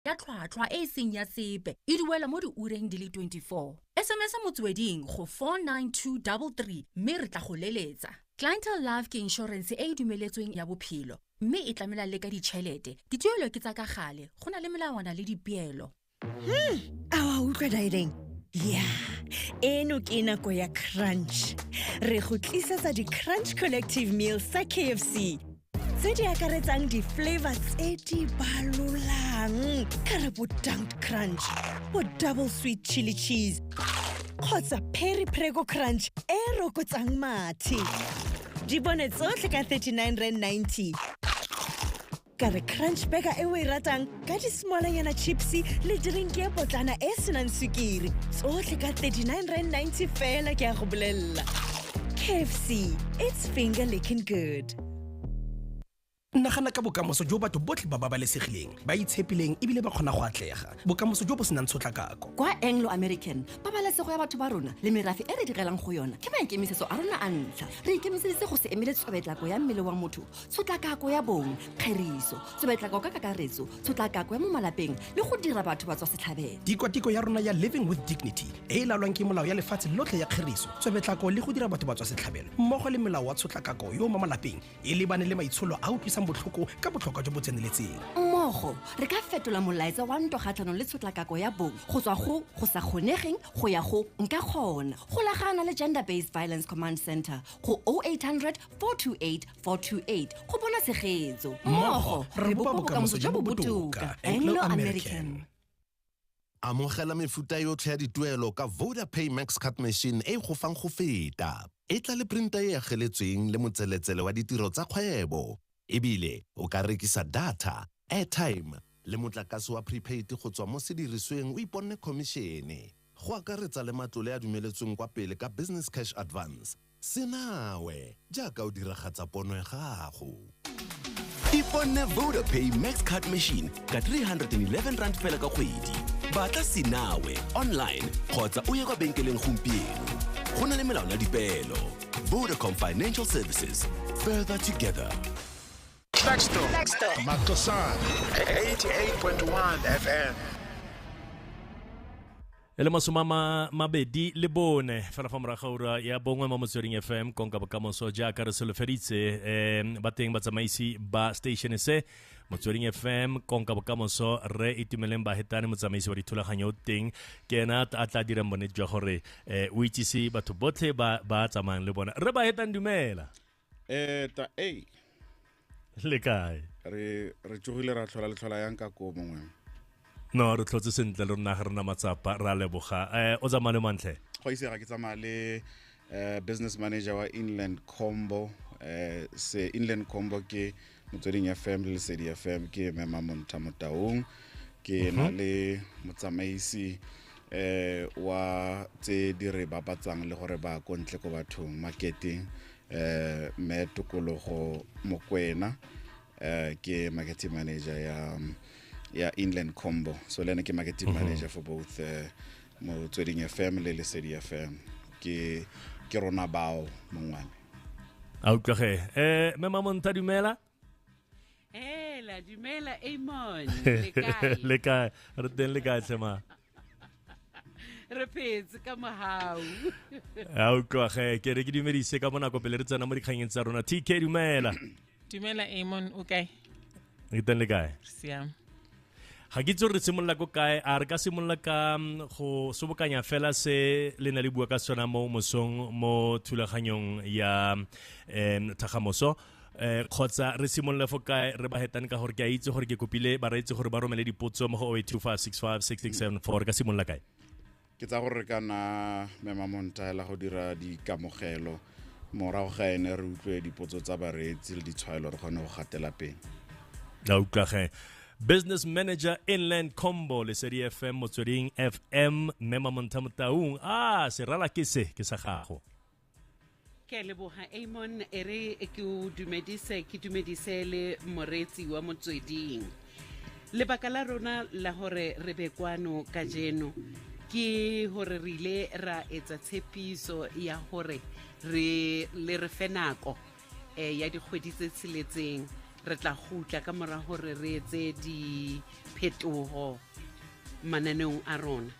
ya tlhwatlhwa e e seng ya sepe e duelwa mo diureng di le 24. SMS motsweding go 49233 mme re tla go leletsa. Clientele Life ke inšorense e e dumeletsweng ya bophelo mme e tlamela le ka ditšhelete. Dituelo ke tsa ka gale, go na le melawana le dipeelo. Hmm, a wa utlwa direng? ya eno ke nako ya crunch re go tlisetsa di-crunch collective meal sa kfc tse di akaretsang di-flavor tse di balolang ka re bo dunk crunch bo double sweet chili cheese kgotsa perry prego crunch e rokotsang mathe di bone tsotlhe ka 39 rand 90 ka re crunch burger e o e ratang ka dismalanyana chipse le drink e potlana e e senang sukiri tsotlhe ka 39 rand 90 fela ke ya go bolelela kfc its finger licking good nagana ka bokamoso jo batho botlhe ba babalesegileng ba itshepileng ebile ba kgona go atlega bokamoso jo bo senang tshotlakako kwa anglo american pabalesego ya batho ba rona le merafe e re direlang go yona ke maikemisetso a rona a ntlha re ikemiseditse go se emele tsobetlako ya mmele wa motho tshotlakako ya bong kgeriso tshobetlako ka kakaretso tshotlakako ya mo malapeng le go dira batho ba tswa setlhabelo tikwatiko ya rona ya living with dignity e e laolwang ke molao ya lefatshe lotlhe ya kgeriso tshobetlako le go dira batho ba tswa setlhabelo mmogo le molao wa tshotlakako yo mo malapeng e lebane le maitsholo a utlwisang botlhoko ka botlhokwa jo bo tseneletseng mmogo re ka fetola molaetsa wa ntwa kgatlhanong le tshotlakako ya bong go tswa go go sa kgonegeng go ya go nka kgona golagana le gender based violence command center go 0800 428 428 go bona tshegetso mmogo re bopa bokamoso jo bo botoka anglo american amogela mefuta yotlhe ya dituelo ka voda pay max card machine e go fang go feta e tla le printa e ageletsweng le motseletsele wa ditiro tsa kgwebo E bile o ka rekisa data, airtime le motlakase wa prepaid go tswa mo sedirisweng o iponne khomišene, go akaretsa le matlole a dumeletsweng kwa pele ka Business Cash Advance. Se nawe jaaka o diragatsa pono ya gago. Iponne Vodapay Max Card Machine ka R311 fela ka kgwedi. Batla Se nawe online kgotsa o ye kwa benkeleng gompieno. Go na le melao le dipeelo. Vodacom Financial Services. Further together. Texto. Texto. Makosan. 88.1 FM. e le masoma ma mabedi le bone fela fa moraga ura ya bongwe mo motsweding fm konka bokamoso jaaka re solofeditse um ba teng batsamaisi ba station se motsweding fm konka bokamoso re itumeleng bahetane motsamaisi wa dithulaganyo o teng ke ena a tla dirang bonnete jwa gore um o itsise batho botlhe ba ba tsamayang le bona re bahetane dumela eh ta ei le kae re re tsogile ra tlhola le tlhola yang ka ko mongwe no re tlhotse sentle le rona ga rena matsapa ra leboga um o tsamaya le mantle go ise ga ke tsamaya le uh, business manager wa inland combo uh, se inland combo ke motsweding fm le lesedi fm ke mema monta motaung ke na mhm. le motsamaisi eh wa tse di re bapatsang le gore ba ko ntle ko bathong marketing eh me tokologo mokwena eh ke marketing manager ya ya Inland Combo so le ne ke marketing mhm. manager for both uh, motsweding fm le lesedi fm ke ke rona bao mongwane a utlwage eh mme mamonta dumela hela dumela amon le kae re teng le kae tlhema re phetse ka mogau a utlwage ke re ke dumedise ka bonako pele re tsena mo dikgangeng tsa rona tk dumela dumela amon o kae re teng le kae siam ga ke itse re simolola ko kae a re ka simolola ka mm, go sobokanya fela se le ne le bua ka sona mo mosong mo thulaganyong ya um thagamoso eh kgotsa re simolole fo kae re ba hetane ka gore ke a itse gore ke kopile ba reetse gore ba romele dipotso mo go 08256667 ka simolola kae ke tsa gore re ka na mema montaela go dira dikamogelo morago ga ene re utlwe dipotso tsa bareetsi le ditshwaelo re kgone go gatela pele la utlwage business manager inland combo lesedi fm motsweding fm mme mamontlha motaung a ah, serala ke se ke sa gago ke a leboga amon e re ke o dumedise ke dumedise le moreetsi wa motsweding lebaka la rona la gore re be kwano ka jeno ke gore re ile ra etsa tshepiso ya gore re le re fe nako um ya dikgwedi tse tsheletseng re tla gutla ka mora gore re etse diphetogo mananeong a rona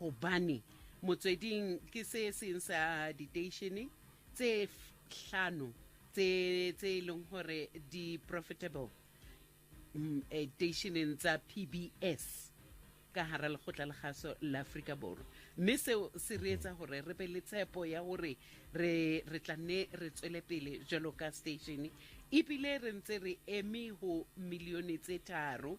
Hobane motsweding ke se seng sa diteishene tse hlano tse tse e leng gore di profitable mm, eh, teisheneng tsa PBS ka hara lekgotla la gaso la Afrika Borwa mme seo se re etsa gore re be le tshepo ya gore re re tla nne re tswele pele jalo ka station ebile re ntse re eme ho milione tse tharo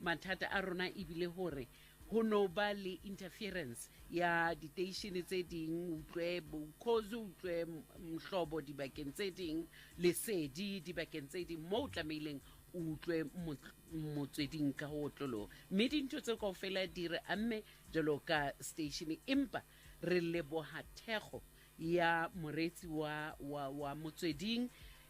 mathata a rona e bile gore go no ba le interference ya diteishene tse ding utlwe bokgozi utlwe mhlobo dibakeng tse ding lesedi dibakeng tse ding mo o tlameileng o utlwe motsweding ka go otloloo mme dintho tse kao fela di re amme jalo ka station empa re leboga thekgo ya moreetsi wa, wa, wa motsweding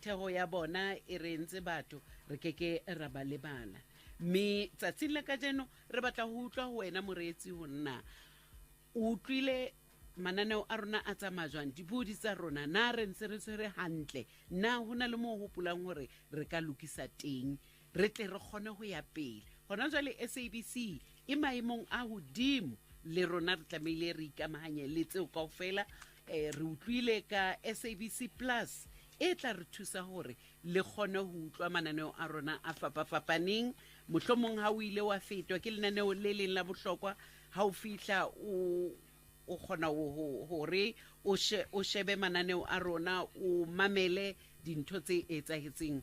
Thego ya bona e re ntse batho re ke ke ra ba lebala. Mme tsatsing la kajeno re batla go utlwa go wena moreetsi go nna o utlwile mananeo a rona a tsamaya jwang dipodi tsa rona na re ntse re tshwere gantle na go na le mo o gopolang gore re ka lokisa teng re tle re kgone go ya pele gona jale sabc e maemong a godimo le rona re tlamehile re ikamaganye le tseo kao fela um re utlwile ka sabc plus e tla re thusa gore le kgone go utlwa mananeo a rona a fapafapaneng mohlomong ga o ile wa fetwa ke lenaneo le leng la bohlokwa ga o fitlha o o kgona gore o shebe mananeo a rona o mamele dintho tse etsagetseng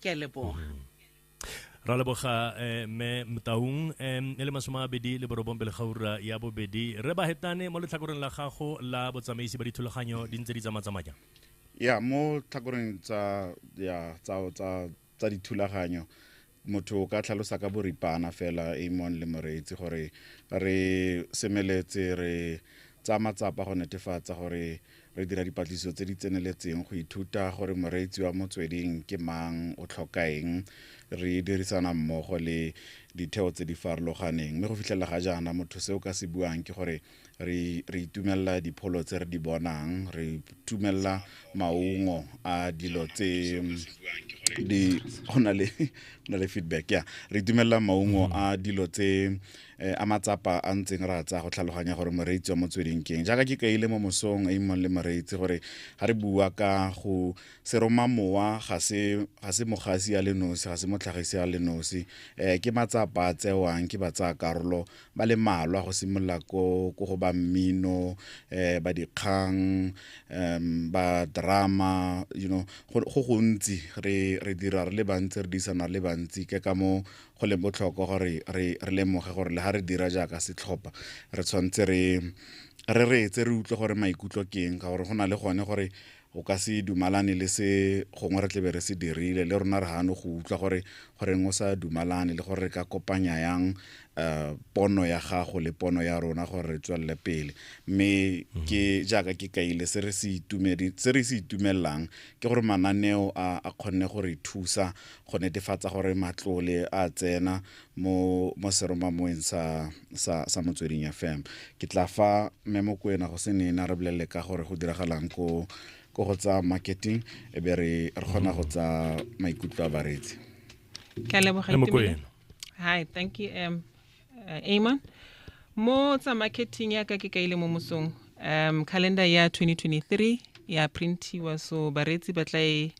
ke a leboga mm-hmm. ra leboga eh, mme mtaung um e le masome a mabedi le borobong pele gaura ya bobedi re ba hetane mo letlhakoreng la gago la botsamaisi ba dithulaganyo di ntse di tsamatsamaya ya mo tlhakoreng tsa ya tsa tsa tsa dithulaganyo motho o ka tlhalosa ka boripana fela amon le moreetsi gore re semeletse re tsa matsapa go netefatsa gore Re dira dipatlisiso tse di tseneletseng go ithuta gore moreetsi wa motsweding ke mang, o tlhoka eng. Re dirisana mmogo le ditheo tse di farologaneng, mme go fitlhelela ga jaana motho se o ka se buang ke gore re re itumelela dipholo tse re di bonang, re itumelela maungo a dilo tse di go na le go na le feedback ya re itumelela maungo a dilo tse Eh, a matsapa a ntseng re a tsaya go tlhaloganya gore moreetsi wa motsweding keng jaaka ke kaile mo mosong a imong le moreetsi gore ga re bua ka go seroma mowa ga se mogasi ya le nosi ga se motlhagisi ya le nosi um ke matsapa a tsewang ke ba tsaya karolo ba le malwa go simolola ko go ba mmino um ba dikgang um ba drama you know go gontsi re dira re le bantsi re diisana re le bantsi ke ka mo go le botlhokwa gore re lemoge gore le ga re dira jaaka setlhopha re tshwanetse re re reetse re utlwe gore maikutlo ke eng ka gore go na le gone gore o ka se dumalane le se gongwe re tlebe re se dirile le rona re gano go utlwa gore goreng o sa dumalane le gore re ka kopanya yang um pono ya gago le pono ya rona gore re tswelele pele mme mhm. ke jaaka ke kaile se re se itumelelang ke gore mananeo a kgonne go re thusa go netefatsa gore matlole a tsena mo mo seromamoeng sa sa sa motsweding fm ke tla fa mme mokwena go se nena re bolelele ka gore go diragalang ko ko go tsa marketing e be re re kgona go tsa maikutlo a bareetsi ke a leboga Mme Mokwena. Itumelo. hi thank you um, uh, amon mo tsa marketing ya ka ke kaile mo mosong um calendar ya 2023 ya printiwa so bareetsi ba tla e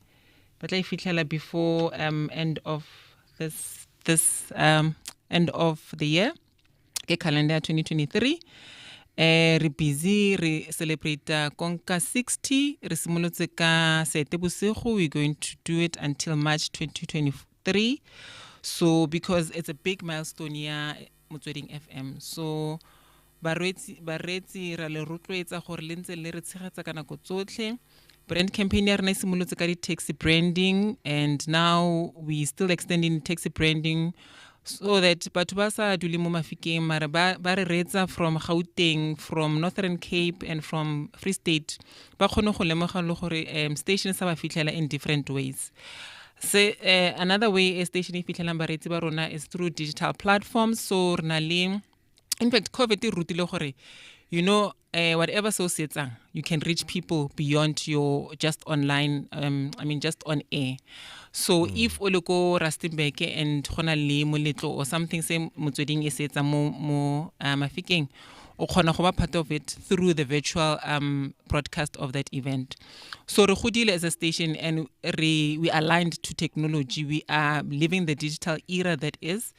ba tla e fitlhela before um, end of this, this um, end of the year ke calendar ya 2023 eh re busy re celebrate uh, konka 60 re simolotse ka sete bosigo we're going to do it until march 2023 so because it's a big milestone ya motsweding fm so bareetsi bareetsi ra le rotloetsa gore le ntse le re tshegetsa ka nako tsotlhe brand campaign ya rena e simolotse ka di-taxi branding and now we still extending taxi branding so that batho ba sa dule mo mafikeng mara ba ba re reetsa from gauteng from northern cape and from free state ba kgone go lemoga le gore um station sa ba fitlhela in different ways se uh, another way e station e fitlhelang bareetsi ba rona is through digital platforms so re na le in fact covid e rutile gore you know uh, whatever so se etsang you can reach people beyond your just online um, i mean just on air so mm. if o le ko rustenburg and go na le moletlo or something se motsweding e se etsang mo, mo uh, mafikeng o kgona go ba part of it through the virtual um, broadcast of that event so re godile as a station and re, we aligned to technology we are living the digital era that is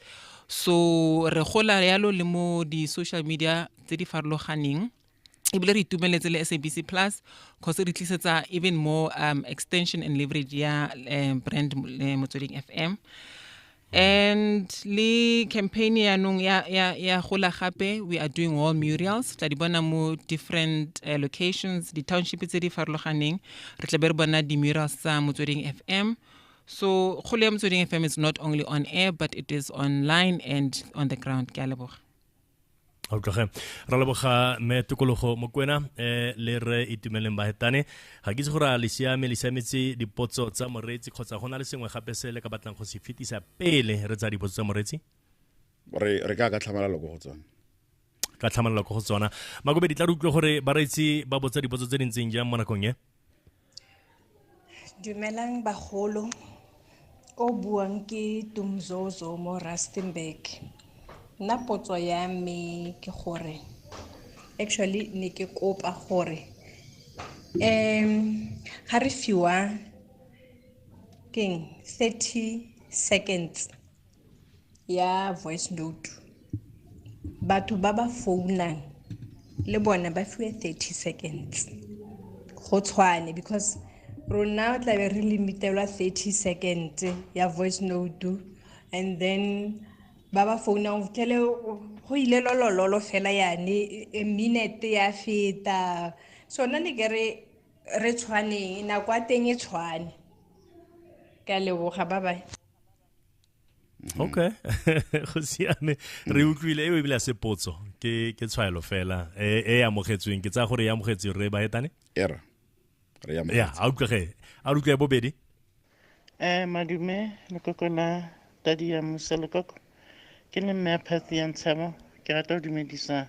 so re gola yalo le mo di-social media tse di farologaneng ebile re itumeletse le sabc plus cause re tlisetsa even more um, extension and leverage ya um, brand eh, motsweding fm and le campaign yaanong ya, ya, ya gola gape we are doing wall murals tla di bona mo different uh, locations di-township tse di farologaneng re tla be re bona di-murals tsa motsweding f m so kgolo ya motsweding f m is not only on air but it is online and on the ground ke a leboga o tloge ra leboga me tokologo mokwena um eh, le re itumeleng bahetane ga ke itse gore a le siame le siametse dipotso tsa moreetsi kgotsa go na le sengwe gape se le ka batlang go se fetisa pele re tsa dipotso tsa moreetsi re ka ka tlhamalalo ko go tsone ka tlhamalalo ko go tsona makobe di tla re utlwe gore bareetsi ba botsa dipotso tse di ntseng jang mo nakong e Dumelang bagolo, o buang ke Dumzozo mo Rustenburg. Nna potso ya me ke gore, actually ne ke kopa gore ga re fiwa keng thirty seconds. ya voice note batho ba ba founang le bone ba fiwe 30 seconds go tshwane because rona o tlabe re limitelwa 30 seconds ya voice note and then ba ba founang kele go ile lolololo fela yane e minute ya feta sone ne ke re re tshwaneng nako ya teng e tshwane ka leboga ba bae Mm-hmm. okay go siame re mm. utlwile eo ebile a se potso ke ke tshwaelo fela e, e amogetsweng ke tsaya gore e amogetswe re ba etane era re ya ya a utlwege a utlwe bobedi eh madume lekoko la tadi ya musa lekoko ke le mme a phatsi ya ntshabo ke rata go dumedisa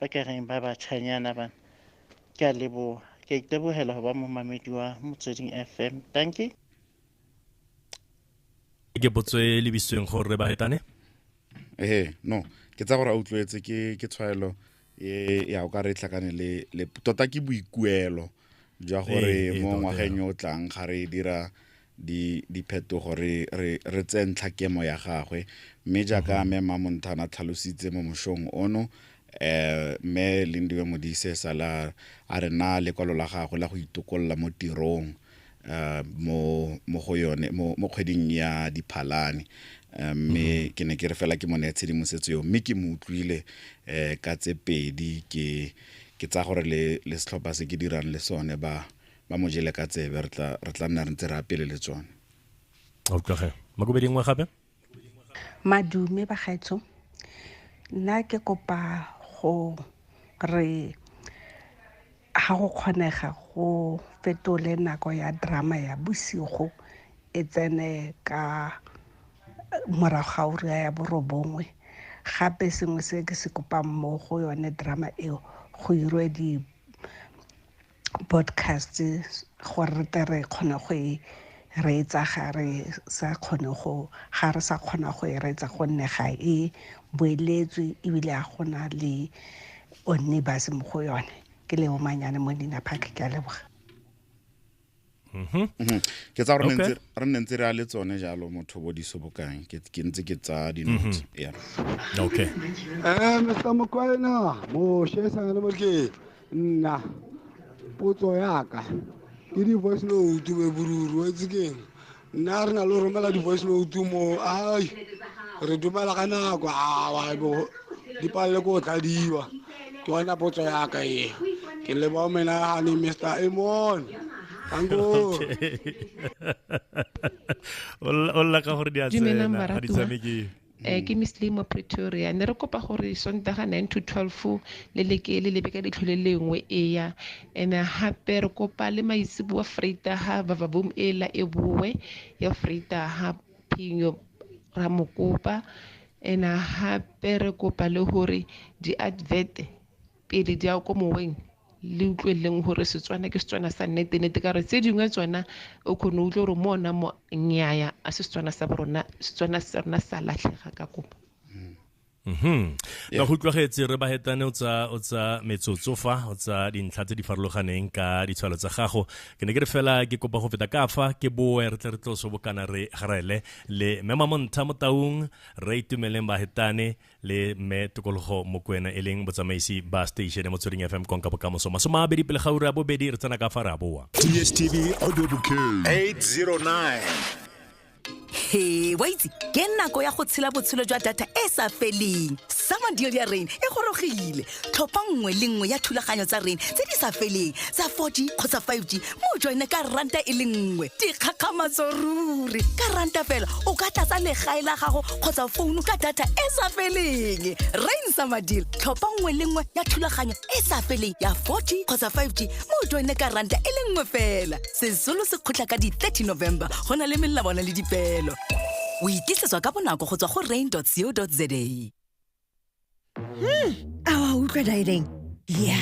ba ka reng ba batjhanyana bana ke a leboha ke a itebohela ho ba momamedi wa motsweding fm danke ke potso e lebisitsweng gore re baretane ee no ke tsa gore a utlwetse ke tshwaelo e ya o ka re tlhakane le tota ke boikuelo jwa gore mo ngwageng yo o tlang ga re dira diphetogo re tseye ntlha kemo ya gagwe mme jaaka mhm. mme mamonthana tlhalositse mo moshong ono eh me lindiwe modise sala a re na lekwalo la gagwe la go itokolola mo tirong uh, mo mo go yone mo mo kgweding ya diphalane um, mme mm -hmm. ke ne ke re fela ke mo ne tshedimosetso eo mme ke mo utlwile um ka tse pedi ke ke tsa gore le le setlhopha se ke dirang le sone ba ba mo jele ka tsebe re tla re tla nna re ntse re apele le tsone a utlwage makobedi nngwe gape Madume bagaetsho nna ke kopa go re ga go kgonega go fetole nako ya drama ya bosigo e tsene ka morago ga ura ya borobongwe gape sengwe se ke se kopang mo go yone drama eo go irwe di podcast gore re tle re kgone go e reetsa ga re sa kgone go ga re sa kgona go e reetsa gonne ga e boeletswe ebile a gona le onne base mo go yone ke leo manyane mo dina phakhe ke a leboga Mhm. Mhm. ke tsa gore Okay. re nne ntse re a le tsone jalo motho bo disobokang ke ke ntse ke tsaya dinotsi Mhm. yeah. okay Eh, Mr. Mokwena, Moshe Sanganamokeng, nna potso yaka ke di-voice note be boruru wa itse keng nna re na le go romela di-voice note mo ai re dumela ka nako awa dipalele ko o tladiwa ke yona potso ya ka e ke leba omena gane mr amon o lla ka gore di a tsena ga di tshamekeng um ke miss limo pretoria ne re kopa gore sontaga nine to twelve le leke le lebe ka letlho le lengwe eya and gape re kopa le maitseboa freitaga vavavoom e la e boe ya freitaga phenyo ra mo kopa and gape re kopa le gore di-advert pele di ya ko moweng le utlweleleng gore setswana ke setswana sa nnete nnete ka gore tse dingwe tsona o kgone o utlwe gore mo ona mo nnyaya a se setswana sa borona setswana sa rona sa latlhega ka kopa Mhm. Ka go utlwagetse re ba hetane o tsa o tsa metsotso fa o tsa dintlha tse di farologaneng ka ditshwalo tsa gago. Ke ne ke re fela ke kopa go feta ka fa ke boe re tle re tlo so bokana re garele le Mema Montha Motaung re itumeleng ba hetane le me tokologo mokwena e leng botsamaisi ba station mo tswering FM konka bokamoso. Masoma a bedi pele ga ura bobedi re tsena ka fa ra boa. DSTV Audio Bouquet 809 he wa itse ke nako ya go tshela botshelo jwa data e sa feleng sama deal ya rain e gorogile tlhopha nngwe le nngwe ya thulaganyo tsa rain tse di sa feleng tsa 4g kgotsa 5g mo joine ka ranta e le nngwe dikgakgamatso ruri ka ranta fela o ka tlatsa legae la gago kgotsa founu ka data e sa feleng rain sama deal tlhopha nngwe le nngwe ya thulaganyo e sa feleng ya 4g kgotsa 5g mo joine ka ranta e le nngwe fela sesolo se kgotla ka di-30 november go na le melawana le dipeelo o ikisetswa ka bonako go tswa go rain co za hmm, a wa utlwa daedeng ya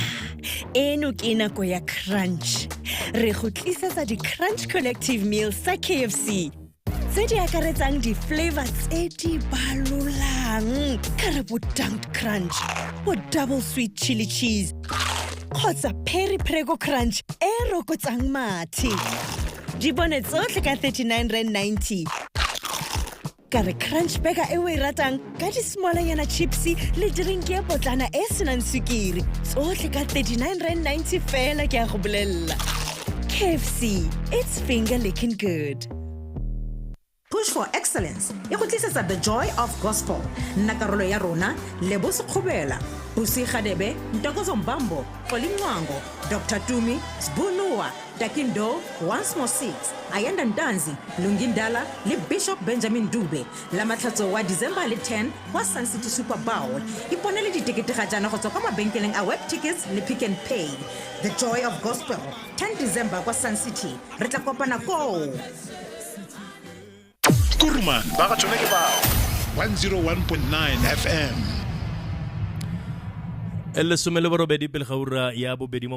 eno ke nako ya crunch re go tlisetsa di-crunch collective meal sa kfc tse di akaretsang di-flavor tse di balolang ka re bo dunked crunch bo double sweet chili cheese kgotsa perry prego crunch e rokotsang mathe di bone tsotlhe ka 39 rand 90 ka re crunch burger e o e ratang ka dismalanyana chipse le drink e potlana e e senang sukiri tsotlhe ka 39 rand 90 fela ke a go bolelela kfc its finger licking good push for excellence e go tlisetsa the joy of gospel nna karolo ya rona lebo sekgobela busi gadebe ntokozo mbambo xolincwango dr tumi sbunuwa takindo once more six ayanda ntanzi lungindala le bishop benjamin dube Lamatlhatso wa December le 10 kwa Sun City Super Bowl. Iponele ditekete ga jaana go tswa kwa mabenkeleng a Web Tickets le Pick and Pay. The Joy of Gospel, 10 December kwa Sun City. Re tla kopana koo. Kuruman ba ga tsone ke bao 101.9 FM e lesome le borobedi pele ga ura ya bobedi mo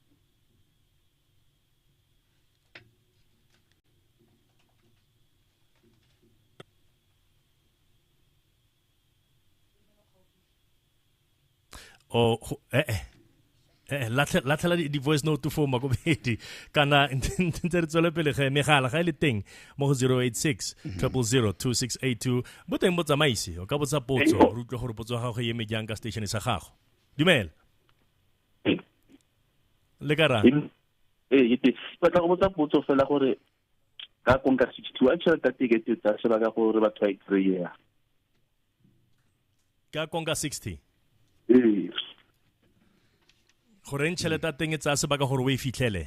o oh, eh eh eh latlhela di-voice note for makobedi kana ntse re tswele pele ge megala ga e le teng mo go 086 0002682 bo teng bo tsamaise o ka botsa potso re utlwe gore potso ya gago e eme jang ka station sa gago dumela le ka ra ee ke batla go botsa potso fela gore ka konka sixty two a tšhelete ya tekete tsa sebaka gore batho ba e kry-ea ka konka sixty ee goreng tšhelete ya teng e tsaya sebaka gore o e fitlhele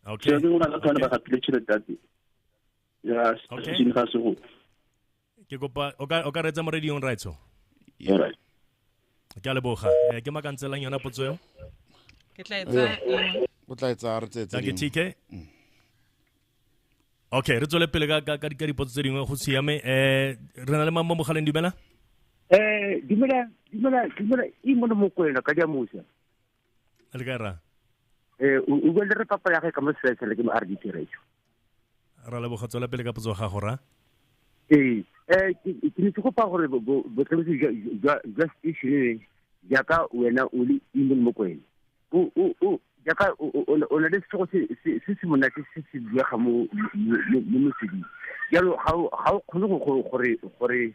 okay o na le tshwane ba gatile tšhelete ya teng ya sešeng ga segolo ke kopa o ka o ka retsa mo radiong raitso Alright. ke a leboga Eh, ke makantselang yona potso eo ke tla etsa eng o tla e tsaya re tsetse Danke TK. Okay, re tswele pele ka ka ka ka dipotso tse dingwe go siame. Eh re na le mamma mogaleng dumela? Eh, dumela, dumela, dumela, e mone mokwena ka diamusa. a le ka ra eh o go le re papa ya ga ka mo setsele ke mo a re ditiretso ra le bogatso la pele ka potso ga go ra ee eh ke ne ke go pa gore botlhokosi jwa jwa station e ja ka wena o le ile mo kwene o o o ja ka o le le se se se se mona se se se bua ga mo mo mo se di ja lo ga o ga o khone go gore gore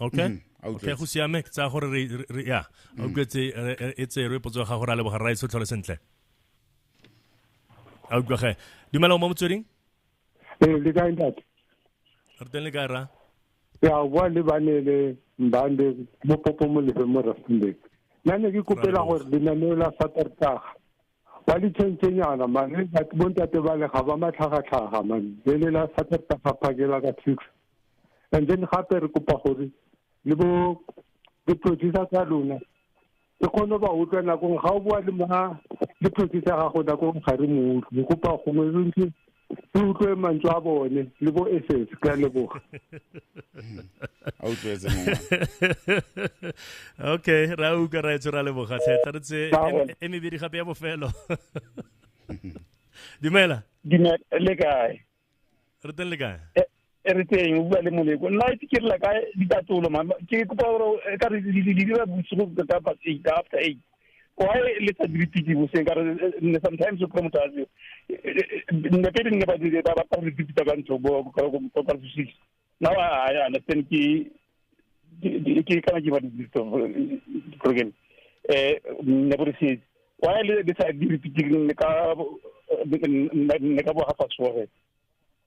okay mm -hmm. okay go siame ke tsaya gore re ya o mm. kwetse e tse re potso ga gore a leboga rrae tshotlhole sentle a utlwa ge dumela mo motsweding ee le kae ntate re teng le kae ra ya o bua le bane le mbande mo popo mo lefe mo rastendek nna ne ke kopela gore lenaneo la satertaga Ba ditšhentšhenyana man bo ntate bale ga ba matlhagatlhaga man le le la saterta ga phakela ka six and then gape re kopa gore le bo di-producer tsa lona e kgone ba utlwa nakong ga o bua le ma le producer gago nakong ga re mo utlwe re kopa gongwe re ntse ke utlwe mantswe a bone le bo ss ka leboga a utlwetse okay ra utlwa ra etswe ra leboga tlhe tla re tse e mebedi gape ya bofelo dumela le kae re teng le kae eh, e re teng o bua le moleko nna ke direla ka ditatsolo ke kopa gore e ka re di dira bosigo ka past eight after eight why le sa dire tiki boseng ka re sometimes o kry motho a se nne pele nne ba dire ba batla gore dipita ka ntlo bo ka ka six now i understand ke ke kana ke ba dipita program eh nne bo se why le sa dire tiki ka nne ka bo ga fa sore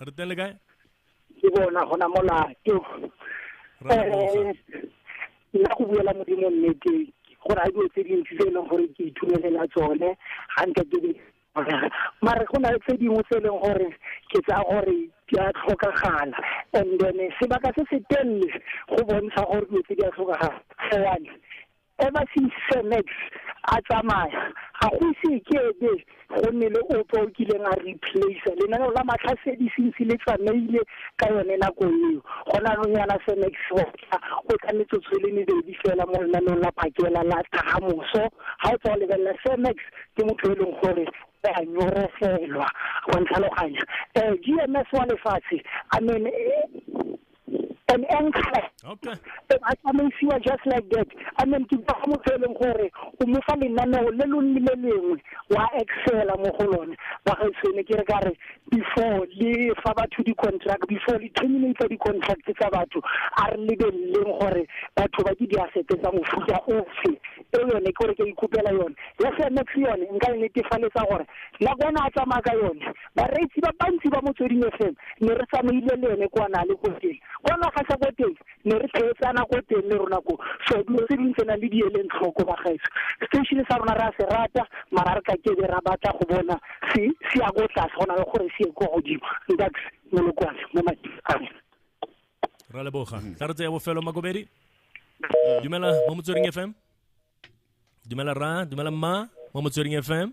re teng le kae ke bona gona molato um nna go buela modimo nnete go raya dilo tse dintsi tse e leng gore ke ithumelela tsone ga nke ke mare go na le tse dingwe tse e leng gore ke tsa gore di a tlhokagala and then sebaka se se telele go bontsha gore dilo tse di a tlhokagala one Ever since Sir Max a tsamaya, ga go ise ke ebe go nne le ope o kileng a replacer. Lenaneo la Matlhasedi since le tsamaile ka yone nako eo, gone yanong yana Sir Max wa tla, o tla metsotso e le mebedi fela mo lenaneong la phakela la Thagamoso. Ga o tswa go lebelela, Sir Max ke motho e leng gore o a nyorofelwa, wa ntlhaloganya. GMS wa lefatshe, I mean. an anchor okay e ba tsamaisiwa just like that and then ke ba motho e leng gore o mo fa lenaneo le lo le lengwe wa excela mo go lone ba ga sene ke re ka re before le fa batho di-contract before le terminate di-contract tsa batho a re lebeleleng gore batho ba ke diasete tsa mofuta ofe e yone ke gore ke ikopela yone ya semex yone nka e netefaletsa gore nakwana a tsamaya ka yone Bareetsi ba bantsi ba Motsweding FM ne re tsamaile le ene kwa Nale ko teng. Kwa naga sa ko teng ne re theetsana ko teng le rona ko. So dilo tse dingwe tsena le di eleng tlhoko bagaetsho. Station sa rona re a se rata mara re ka ke be ra batla go bona se se ya ko tlase go na le gore se ye kwa godimo. Ntax Molokwane mo mading a me. Ra leboga. Tla re tseye bofelo Makobedi. Dumela mo Motsweding FM. Dumela ra, dumela mma mo Motsweding FM.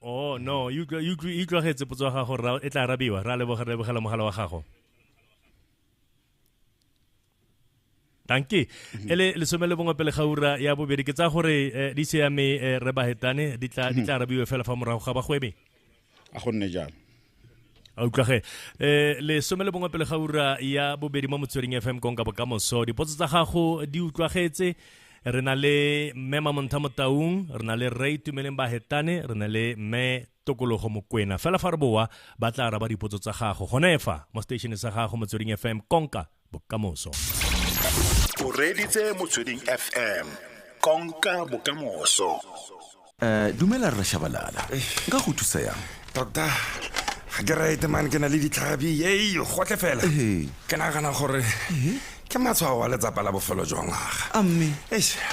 oh no e utlwagetse potso ya gago ra e tla arabiwa ra lebogela mogala wa gago danke mhm. ele lesome le bongwe pele ga ura ya bobedi ke tsa gore eh, di se ya me eh, re bahetane di tla mhm. arabiwe fela fa morago ga bagwebe a gonne jalo a utlwage um eh, lesome le bongwe pele ga ura ya bobedi mo motsweding f m konka bokamoso dipotso tsa gago di utlwagetse re na le mme mamontha motaung re na le rre itumeleng ba hetane re na le mme tokologo mokwena fela fa re boa ba tla araba dipotso tsa gago gone fa mo station sa gago motsweding fm konka bokamoso o reditse motsweding fm konka bokamoso um dumela rre shabalala nka go thusa yang tota ga ke rete mane ke na le ditlhabi ei gotle fela ke nagana gore ke matshwao wa letsapa la bofelo jwa ngwaga amme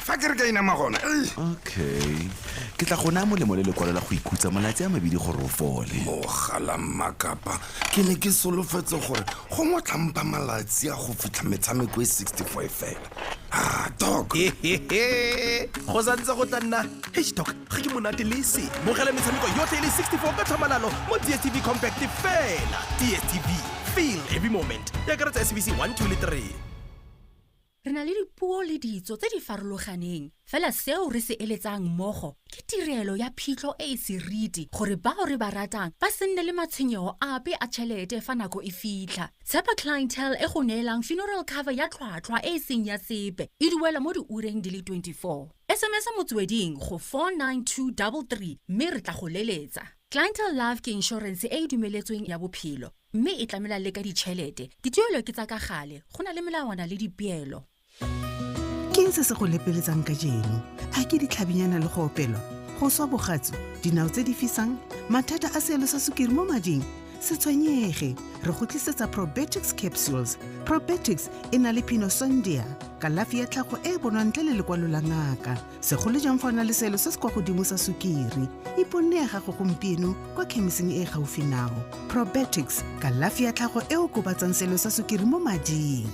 fa ke re ka inama gona okay ke tla gona molemo le lekwalo la go ikhutsa malatsi a mabedi gore o fole mogala mmakapa ke ne ke solofetse gore go mo tlhampa malatsi a go fitlha metshameko e 65 fela Ah, dok go santse go tla nna hdoc ga ke monate le se bogela metshameko yotlhe e le 64 ka tlhamalalo mo dstv compact fela dstv feel every moment ya karetsa sbc 1 2 le 3 Re na le dipuo le ditso tse di farologaneng, fela seo re se eletsang mmogo ke tirelo ya phitlho e e seriti gore bao re ba ratang ba se nne le matshwenyego ape a tšhelete fa nako e fitlha. Tshepa Clientele e go neelang funeral cover ya tlhwatlhwa e e seng ya sepe, e duelwa mo diureng di le 24. SMS-a motsweding go 49233 mme re tla go leletsa. Clientele Life ke inšorense e e dumeletsweng ya bophelo. Mme e tlamela le ka ditšhelete. Dituelo ke tsa ka gale, go na le melawana le dipeelo. Keng se se go lepeletsang ka jeno? A ke ditlhabinyana le go opelwa? Go swa bogatsu? Dinao tse di fisang? Mathata a seelo sa sukiri mo mading? Se tshwenyege, re go tlisetsa Probetics Capsules. Probetics e na le pinosondia, kalafi ya tlhago e e bonwang ntle le lekwalo la ngaka. segolo jang fa o na le selo se se kwa godimo sa sukiri iponne ya gago gompieno kwa khemiseng e e gaufi nao probetics kalafi ya tlhago e o kobatsang selo sa sukiri mo mading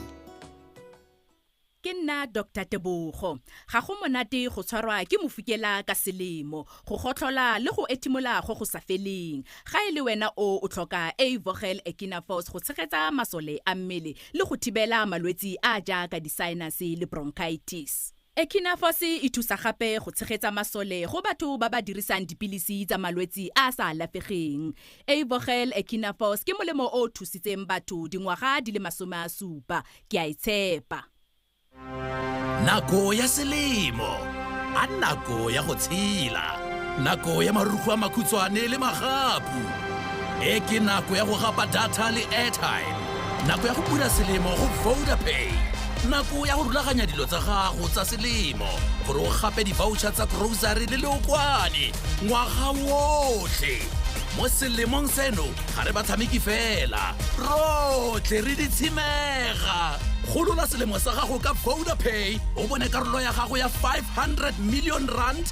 ke nna dr tebogo ga go monate go tshwarwa ke mofukela ka selemo go gotlhola le go ethimola go go sa feleng ga e le wena o o tlhoka avogel ekinafos go tshegetsa masole a mmele le go thibela malwetse a jaaka di-sinus le bronchitis Echinafos e thusa gape go tshegetsa masole go batho ba ba dirisang dipilisi tsa malwetsi a a sa alafegeng. Eivogel Echinafos ke molemo o o thusitseng batho dingwaga di le masome a supa. Ke a e tshepa. Nako ya selemo a nako ya go tshela. Nako ya marugo a makhutshwane le magapu. E ke nako ya go gapa data le airtime. Nako ya go bula selemo go Vodapay. Nako ya go rulaganya dilo tsa gago tsa selemo gore o gape di-voucher tsa grocery le leokwane ngwaga wotlhe. Mo selemong seno ga re batshameki fela, rotlhe re ditshimega. Golola selemo sa gago ka Vodapay o bone karolo ya gago ya 500 million rand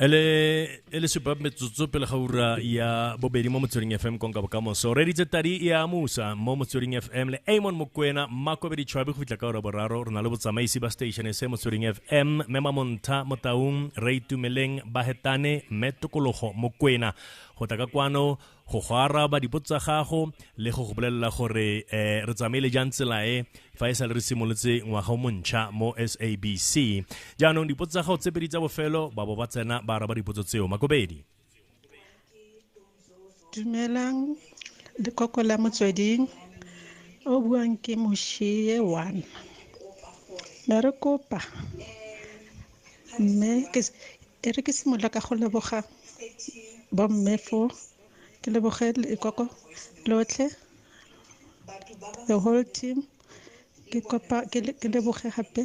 ele ele supa metsotso pele ga ura ya bobedi mo motsweding fm konka bokamoso re ditse tadi e a musa mo motsweding fm le amon mokwena makobedi tšhwabe go fitlha ka ora boraro re na le botsamaisi ba station se motsweding fm mme mamonta motaung re itumeleng bahetane mme tokologo mokwena go tla ka kwano go go araba dipotso tsa gago le go go bolelela gore um re tsamaile jang tsela e fa e sa le re simolotse ngwaga o montšha mo sabc jaanong dipotso tsa gago tse pedi tsa bofelo ba bo ba tsena ba araba dipotso tseo makobedi dumelang lekoko la motsweding o buang ke moshie one me re kopa mme E re ke simolola ka go leboga bomme fo ke leboge lekoko lotlhe the whole team ke kopa ke leboge gape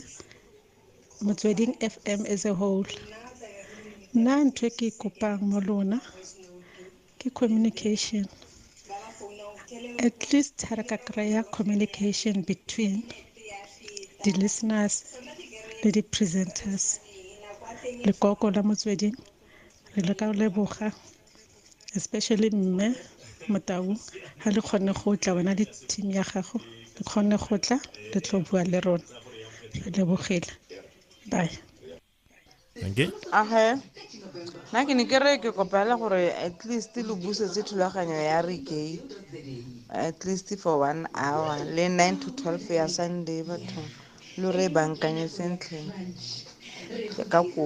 motsweding F_M as a whole. Nna ntho e ke e kopang mo lona Ke communication. At least ha re ka kry-a communication between the listeners le di presenters. Lekoko la motsweding re le ka leboga especially mme Motau ha le kgonne go tla wena le team ya gago le kgonne go tla le tlo bua le rona re lebogile bye. okay age nna ke ne ke re ke kopela gore at least lo busetse thulaganyo ya reke at least for one hour le nine to twelve ya sunday batho lo re bankanye sentle ka kopo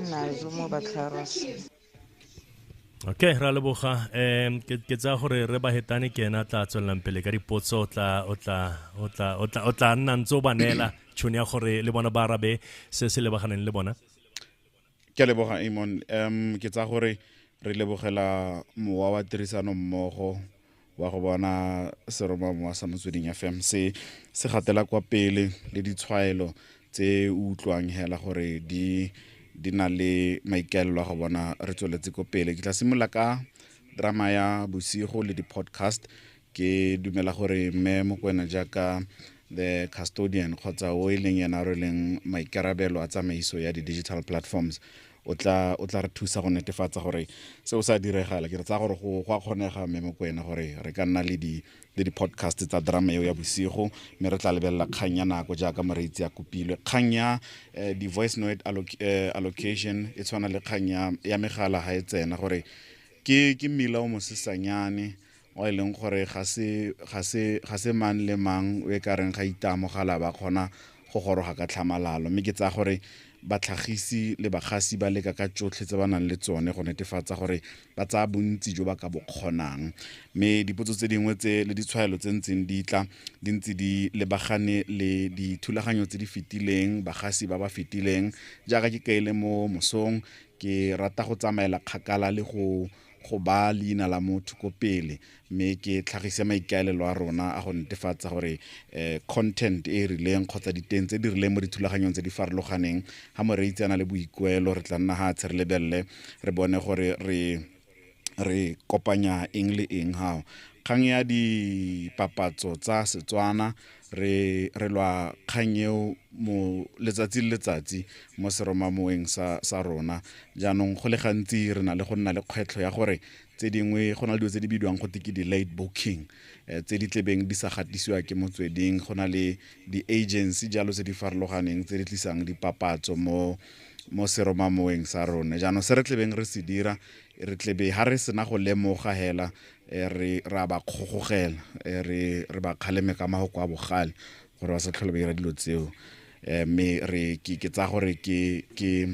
nnazo mo batlharos okay ra leboga um ke tsaya gore re ba hetane ke ena tla tswelelang pele ka dipotso o tla o tla o tla o tla o tla nna ntse o ba neela tšhono ya gore le bona ba arabe se se lebaganeng le bona ke a leboga amon um ke tsaya gore re lebogela mowa wa tirisano mmogo wa go bona seromamowa sa motsweding fm se se gatela kwa pele le ditshwaelo tse o utlwang hela gore di di na le maikaelelo a go bona re tsweletse ko pele ke tla simolola ka drama ya bosigo le di-podcast ke dumela gore mme mokwena jaaka the custodian kgotsa o e leng yena re leng maikarabelo a tsamaiso ya di-digital platforms o tla o tla re thusa go netefatsa gore seo sa diregala ke re tsaya gore go go a kgonega mme mo kwena gore re ka nna le di le di-podcast tsa drama eo ya bosigo mme re tla lebelela kgang ya nako jaaka moreitsi ya kopilwe kgang ya eh, di-voice note alloc- eh, allocation e tshwana le kgang ya- ya megala ga e tsena gore ke ke mmila o mosesanyane e leng gore ga se, ga se, ga se mang le mang o e ka reng ga itaamogala ba kgona go goroga ka tlhamalalo. Mme ke tsaya gore batlhagisi le bagasi ba leka ka tsotlhe tse ba nang le tsone go netefatsa gore ba tsaya bontsi jo ba ka bo kgonang. Mme dipotso tse dingwe tse le ditshwaelo tse ntseng di tla di ntse di lebagane le dithulaganyo tse di fetileng, bagasi ba ba fetileng. Jaaka ke kaile mo mosong, ke rata go tsamaela kgakala le go go baa leina la motho ko pele mme ke tlhagise maikaelelo a rona a go netefatsa gore um content e e rileng kgotsa diteng tse di rileng mo dithulaganyong tse di farologaneng ga moreitse a na le boikuelo re tla nna ga tshe re lebelele re bone gore re re kopanya eng le eng gao kgang ya dipapatso tsa setswana re re lwa kgang eo mo letsatsi le letsatsi mo seromamoeng sa sa rona jaanong go le gantsi re na le go nna le kgwetlho ya gore tse dingwe go na le dilo tse di bidiwang go ke di-late booking um tse di tlebeng di sa gatisiwa ke motsweding go na le di-agency jalo tse di farologaneng tse di tlisang dipapatso mo mo seromamoeng sa rona jaanong se re tlebeng re se dira re tlebe ga re sena go lemoga hela e re ra ba kgogogela e re re ba kgaleme ka mago kwa bogale gore ba sa tlhole ba dira dilo tseo um mme re ke tsaya gore ke ke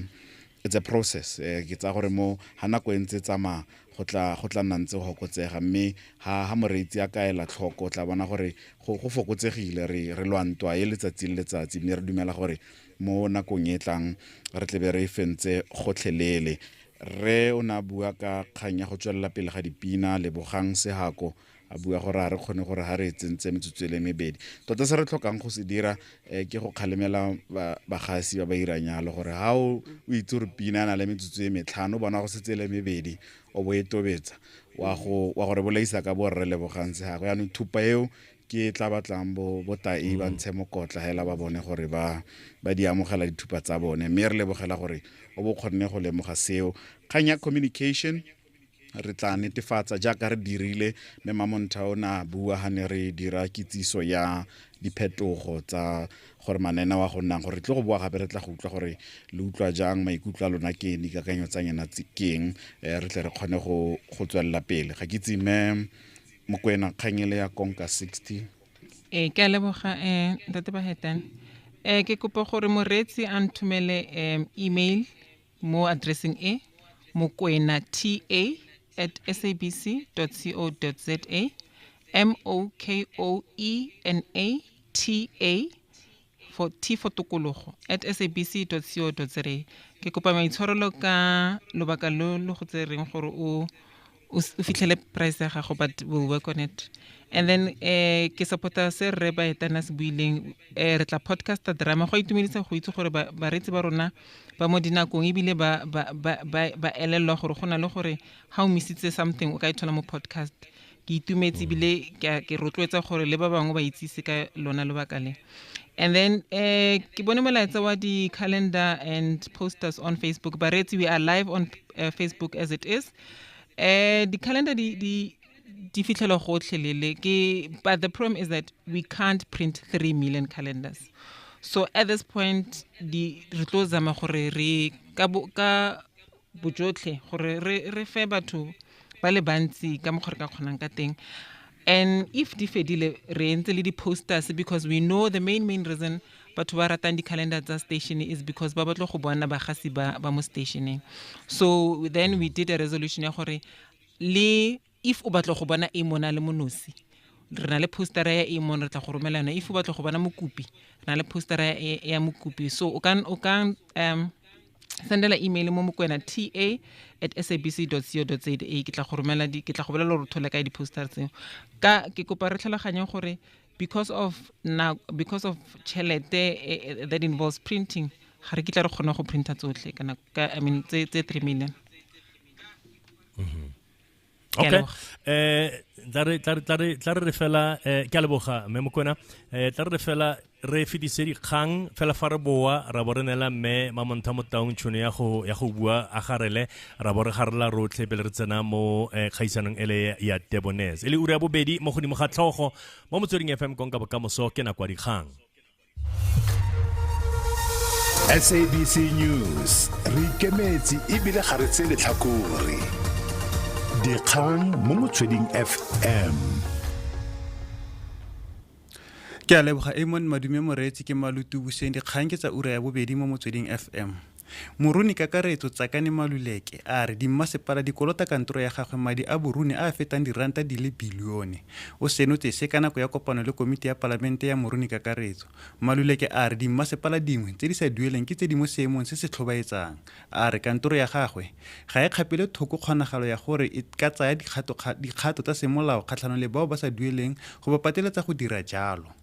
it's a process eh, ke tsa gore mo ha nako e ntse tsamaya go tla go tla nna ntse go fokotsega mme ha ha moreetsi a kaela tlhoko o tla bona gore go fokotsegile re re lwantwa e letsatsi le letsatsi mme re dumela gore mo nakong e tlang re tlebe re e fentse gotlhelele rre o ne a bua ka kgang ya go tswelela pele ga dipina lebogang sehako a bua gore ga re kgone gore ga re e tsentse metsotso e le mebedi tota se re tlhokang go se dira um ke go kgalemela bagasi ba ba irang yalo gore ga o itse gore pina a na le metsotso e metlhano o bona go setse e le mebedi o bo e tobetsa wa go re bolaisa ka borre lebogang se gago yaanong thupa eo ke tla batlang bo botai ba mm. ntshe mokotla hela ba bone gore ba ba di amogela dithupa tsa bone mme re lebogela gore o bo kgonne go lemoga seo kgang ya communication re tla netefatsa jaaka re dirile mme mamontha o ne a bua ga ne re dira kitsiso ya diphetogo tsa gore manena wa go nnang gore tle go boa gape re tla go utlwa gore le utlwa jang maikutlo a lona keng dikakanyo tsa nyena keng eh, re tle re kgone go tswelela pele ga ke tsime mokwena kgang ele ya konka 60 ee ke a leboga um ntate bahetane um ke kopa gore moreetsi a nthomele um email mo addressing e mokwena ta at sabc co za m o k o e n a ta for tifo tokologo at sabc co za ke kopa maitshwarelo ka lobaka lo lo go tsereng gore o o fitlhele price ya gago but will work on it and then um ke supporta se rre baetana se buileng um re tla podcaster drama go a itumedisa go itse gore bareetsi ba rona ba mo dinakong ebile ba elelelwa gore go na le gore ga o misitse something o ka e thola mo podcast ke itumetse ebile ke rotloetsa gore le ba bangwe ba itsise ka lona lobaka le and then um ke bone molaetsa wa di-calendar and posters on facebook bareetsi we are live on uh, facebook as it is um di-calendar di, di di fitlhelwa gotlhe lele ke but the problem is that we can't print 3 million calendars so at this point di re tlo zama gore re ka bojotlhe gore re re fe batho ba le bantsi ka mokgwa re ka kgonang ka teng and if di fedile re entse le di-posters because we know the main main reason batho ba ratang di-calendar tsa station is because ba batlo go bona bagasi ba ba mo stationeng so then we did a resolution ya gore le If o batla go bona Amon a le mo nosi, re na le poster-a ya Amon, re tla go romela yone. If o batla go bona mokopi, re na le poster-a ya, ya, ya mokopi. So, o ka, o ka um, sendela email mo mokwena ta at sabc dot co dot za. Ke tla go romela di, ke tla go bolela gore o thole kae di-poster tseo. Ka, ke kopa re tlhaloganye gore because of na, because of tšhelete e, e, that involves printing, ga re kitla re kgona go printer tsotlhe, kana, ka, I mean, tse, tse three million. okay eh tla re tla re tla re tla re fela eh ke a leboga mme mokona eh tla re fela re fedise dikgang fela fa re boa ra bo re nela mme mamontha mo taung tšhono ya go ya go bua a garele ra bo re garela rotlhe pele re tsena mo eh, kgaisanong ele ya tebones e le ura ya bobedi mo godimo ga tlhogo mo motsweding fm konka bokamoso ke nako ya dikgang sabc news re ikemetse ebile ga re tse letlhakore dikgang mo motsweding fm ke a leboga amon madume moreetsi ke malutu buseng dikgang ke tsa ura ya bobedi mo motsweding fm Moruni Kakaretso Tsakane Maluleke a re dimmasepala di kolota kantoro ya gagwe madi a boruni a a fetang diranta di le bilione. O senotse se ka nako ya kopano le komiti ya Palamente ya Moruni Kakaretso. Maluleke a re dimmasepala dingwe tse di sa dueleng ke tse di mo seemong se se tlhobaetsang. A re kantoro ya gagwe ga e kgapele thoko kgonagalo ya gore e ka tsaya dikgato tsa semolao kgatlhanong le bao ba sa dueleng go ba pateletsa go dira jalo.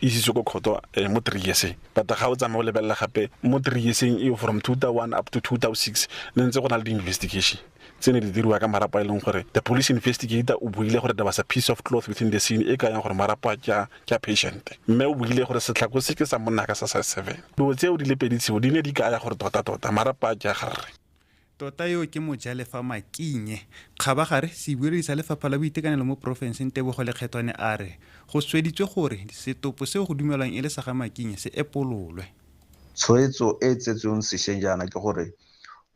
isitswe ko kgoto eh, mo three yearseng but ga o tsamaye o lebelela gape mo three yearseng eo from two thousand one up to two thousand six ne ntse go na le di-investigation tse ne di diriwa ka marapo a e leng gore the police investigator o buile gore there was a piece of cloth within the scene e ka yang gore marapo a ke a patient mme o buile gore setlhako se ke sa monna ka sa sa seven dilo tseo di le pedi tseo di ne di kaya gore tota-tota marapo a ke a garre Tota yo ke mojalefa Makinye. Kgabagare, sebueledi sa Lefapha la Boitekanelo mo porofenseng Tebogo Lekgethwane a re go sweditswe gore setopo seo go dumelwang e le sa ga Makinye se epololwe. Tshwetso e e tsetsweng sešweng jaana ke gore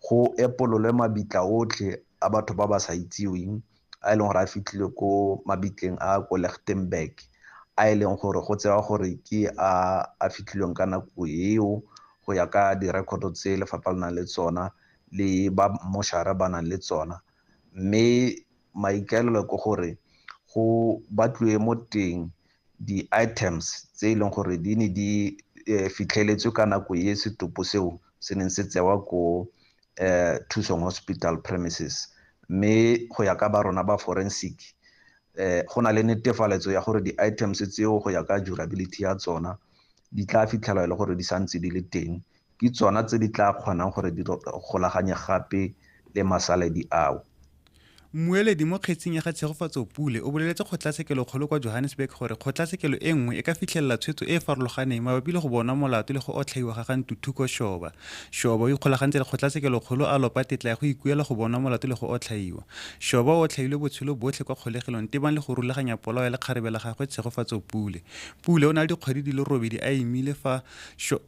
go epololwe mabitla otlhe a batho ba ba sa itseweng a e leng gore a fitlhile ko mabitleng a ko Lichtenburg a e leng gore go tsewa gore ke a a fitlhilweng ka nako eo go ya ka direkoto tse lefapha le nang le tsona le ba moshara ba nang le tsona mme maikaelelo ke gore go batliwe mo teng di-items tse e leng gore di ne di um fitlheletswe ka nako e setopo seo se neng se tsewa ko um thusong hospital premises mme go ya ka ba rona ba forensic um go na le netefaletso ya gore di-items tseo go ya ka durability ya tsona di tla fitlhelwa e le gore di santse di le teng ke tsona tse di tla kgonang gore di golaganye gape le masaledi ao. Mmueledi mo kgetsing ya ga Tshegofatso Pule o boleletse kgotlatshekelokgolo kwa Johannesburg gore kgotlatshekelo e nngwe e ka fitlhelela tshwetso e e farologaneng mabapi le go bonwa molato le go otlhaiwa ga ga Ntuthuko Shoba. Shoba o ikgolagantse le kgotlatshekelokgolo a lopa tetla ya go ikuela go bonwa molato le go otlhaiwa. Shoba o otlhailwe botshelo botlhe kwa kgolegelong tebang le go rulaganya polao ya lekgarebe la gagwe Tshegofatso Pule. Pule o na le dikgwedi di le robedi a imile fa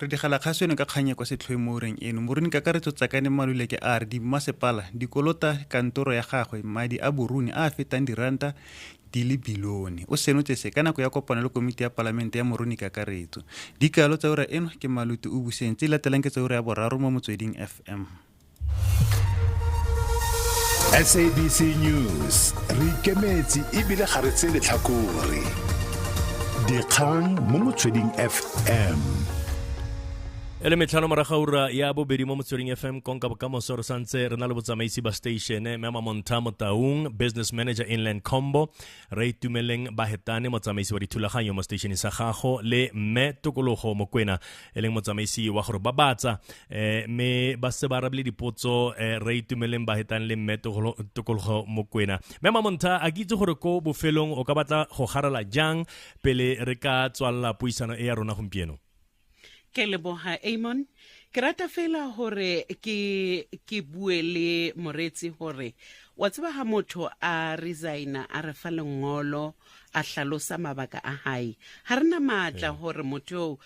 Re digela kgaso eno ka kgang e kwa setlhoeng mo ureng eno. Moruni Kakaretso Tsakane Maluleke a re dimmasepala di kolota kantoro ya gagwe madi a boruni a a fetang diranta di le bilione. O senotse se ka nako ya kopano le komiti ya palamente ya Moruni Kakaretso. Dikalo tsa ura eno ke Maluti o buseng tse di latelang ke tsa ura ya boraro mo Motsweding FM. sabc news re ikemetse ebile ga re tse letlhakore dikgang mo motsweding fm e le metlhano moraga ura ya bobedi mo motsweding fm konka bokamoso re santse re na le botsamaisi ba station mme mamonta motaung business manager inland combo re itumeleng ba hetane motsamaisi wa dithulaganyo mo stationeng sa gago le mme tokologo mokwena e leng motsamaisi wa gore ba batsa eh, mme ba se ba arabile dipotso eh, re itumeleng ba hetang le mme tokologo mokwena mme mamonta a ke itse gore ko bofelong o ka batla go garela jang pele re ka tswalela puisano e ya rona gompieno ke leboga amon ke rata fela gore ke ke bue le moretsi gore wa tseba ga motho a resigna a re fa lengolo a hlalosa mabaka a hae ga re na maatla gore motho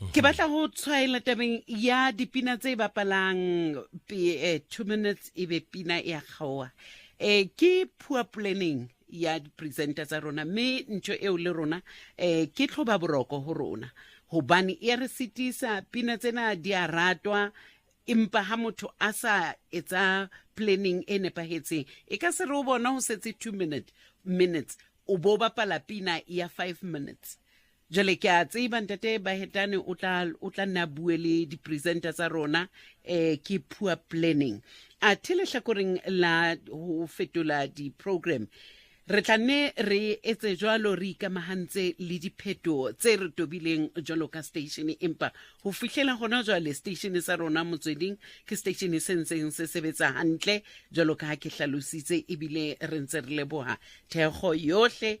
mhm. ke batla go tshwaela tabeng ya dipina tse e bapalang eh, two minutes e be pina ya kgaoa um ke poor planning ya di-presenter tsa rona mme ntho eo le rona um ke tlhoba boroko go rona gobane e re setisa pina tsena di a ratwa empa ha motho a sa etsa planning e nepagetseng e ka se re o bona go setse two minute minutes o bo bapala pina ya five minutes jale ke a tseba ntate bahetane o tla o tla nna bue le di-presenter tsa rona um ke poor planning a the letlhakoreng la ho fetola di-program re tla nne re etse jalo re ikamagantse le dipheto tse re tobileng jalo ka station empa go fitlhela gona jwale station sa rona motsweding ke station se ntseng se sebetsa gantle jalo ka ke tlhalositse ebile re ntse re leboga thekgo yotlhe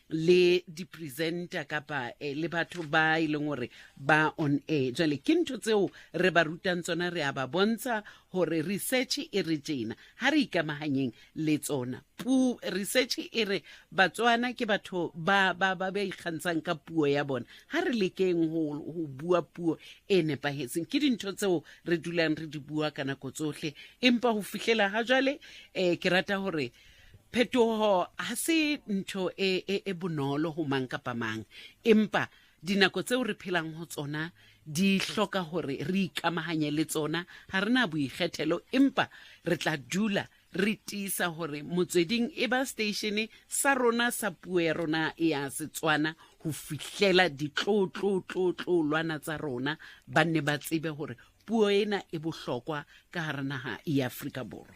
le di-presenter kapa eh, le batho ba e leng gore ba on air jale ke ntho tseo re ba rutang tsona re a ba bontsha gore research e re tjena ga re ikamaganyeng le tsona pu research e re batswana ke batho ba ba ba ba ikgantshang ka puo ya bona ga re lekeng go go bua puo e nepagetseng ke dintho tseo re dulang re di bua ka nako tsotlhe empa go fitlhela ga jale um ke rata gore phetogo ga se ntho e, e, e bonolo go mang kapa mang empa dinako tseo re phelang go tsona di hloka gore re ikamaganye le tsona ga re na boikgethelo empa re tla dula re tiisa gore motsweding e ba statene sa rona sa puo ya rona ya setswana go fihlela ditlotlotlotlotlolwana tsa rona ba nne ba tsebe gore puo ena e bohlokwa ka gare naga ya aforika borwa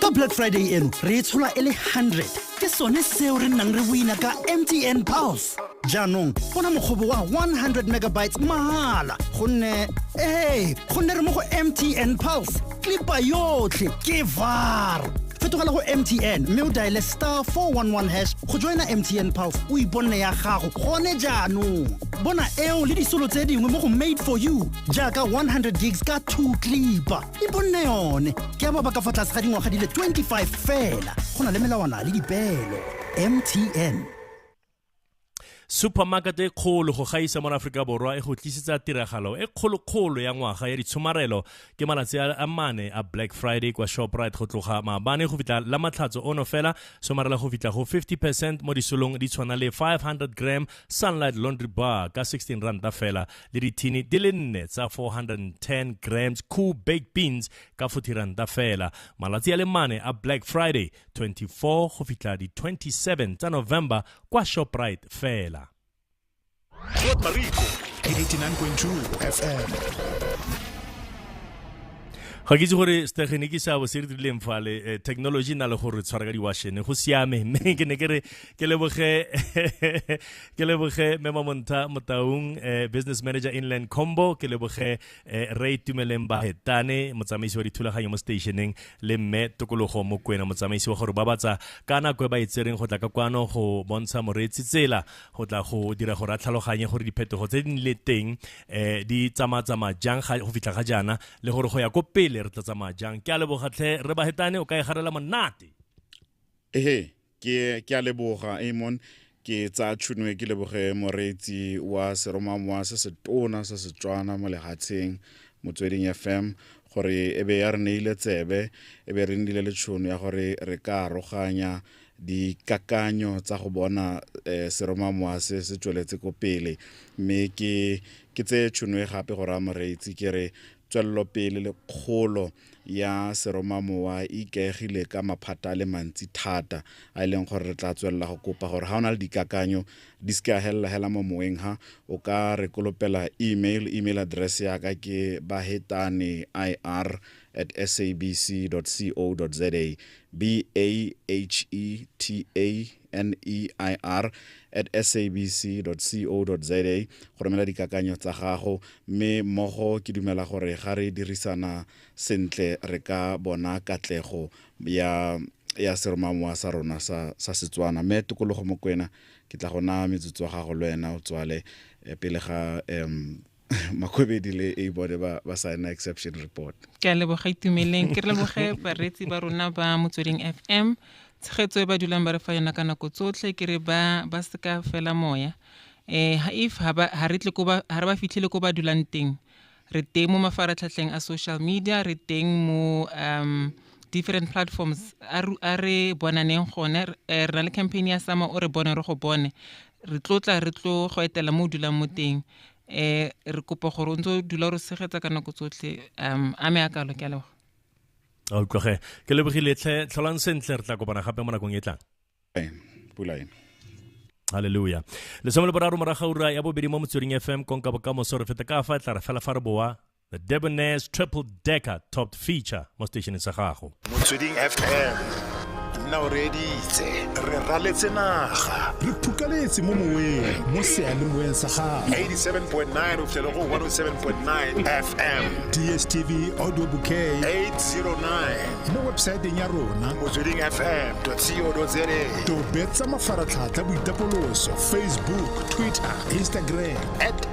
ka black friday eno re e tshola e le 100 ke sone seo re nnang re boina ka mtn pulse jaanong bona mokgobo wa 100 megabytes mahala gonne ee gonne re mo go mtn pulse klipa yotlhe ke var fetogela go mtn mme o diale star 411 hash go joina mtn pulse o iponne ya gago gone jaanong bona eo le disolo tse dingwe mo go made for you jaaka 100 gigs ka 2 klipa e bonne yone ke ya ba ba ka fa tlase ga dingwaga di le 25 fela go na le melawana le dipeelo mtn supermarket e kgolo go gaisa mo aforika borwa e go tlisetsa tiragalo e kgolokgolo ya ngwaga ya ditshomarelo ke malatsi a mane a black friday kwa shoprite go tloga maabane go fitlha la matlhatso ono fela somarela go fitlha go 50 percent mo disolong di tshwana le 500 gram sunlight laundry bar ka 16 ranta fela le dithini di le nne tsa 410 grams cool baked beans ka fothiranta fela malatsi a le mane a black friday 24 go fitlha di 27 tsa november kwa shoprite fela Fort Marico, 89.2 FM. ga ke itse gore stegeniki seabo se re dirileng fale eh, technology e na le gore tshwara ka diwashene go siame mme ke ne ke re ke leboge ke leboge mema monta motaung eh, business manager inland combo ke leboge eh, re itumeleng ba hetane motsamaisi wa dithulaganyo mo stationeng le mme tokologo mo kwena motsamaisi wa gore ba batsa ka nako e ba itsereng go tla ka kwano go bontsha moreetsi tsela go tla go dira gore a tlhaloganye gore diphetogo tse di le teng eh, di tsamatsamaya jang go fitlha ga jaana le gore go ya ko pele re tla tsamaya jang ke a lebogatlhe re ba hetane o ka e garela monate ehe ke ke a leboga amon ke tsa tšhono e ke leboge moreetsi wa seromamowa se setona sa setswana mo lehatsheng motsweding fm gore e be ya re neile tsebe e be re nnile le tšhono ya gore re ka aroganya dikakanyo tsa go bona um seromamowa se se tsweletse ko pele mme ke ke tseye tšhono e gape go raya moreetsi ke re tswelelopele le kgolo ya seromamowa e ikaegile ka maphata a le mantsi thata a e leng gore re tla tswelela go kopa gore ga o na le dikakanyo di se ka helela hela mo moweng ha o ka re kolopela email email address ya ka ke bahetane ir at sabc co za b a h e t a neir at sabc co za go romela dikakanyo tsa gago mme mmogo ke dumela gore ga re dirisana sentle re ka bona katlego ya ya seromamowa sa rona sa, sa setswana mme tokologo mokwena ke tla go naya metsotso wa gago le wena o tswale eh, pele ga um makgwebedi le e bone ba ba signa exception report ke a leboga itumeleng ke re leboge bareetsi ba rona ba motsweding fm tshegetso e ba dulang ba re fa yona ka nako tsotlhe ke re ba ba seka fela moya um if ha ba- ha re tle ko ba- ha re ba fitlhele ko ba dulang teng re teng mo mafaratlhatlheng a social media re teng mo um different platforms a ru- a re bonaneng gone Re- eh, re na le campaign ya sama o re bone re go bone re tlo tla re tlo go etela mo o dulang mo teng um re kopa gore o ntse o dula re tshegetsa ka nako tsotlhe um a me a kalo ke a leboga a utlwage ke lebogile tlhe tlholang sentle re tla kopana gape mo nakong e tlang pula e halleluja lesome le boraro moraga ura ya bobedi mo motsweding fm konka bokamoso re feta ka fa e tla re fela fa re boa The Debonair's Triple Decker Topped Feature mo stationeng sa gago. Motsweding FM nna o reeditse re raletse naga re phukaletse mo moweng mo sealemoeng sa gago 87.9 o fitlhele go 107.9 fm dstv audio bouquet 809 mo websaeteng ya rona motsweding fm co za tobetsa mafaratlhatlha boitapoloso facebook twitter instagram at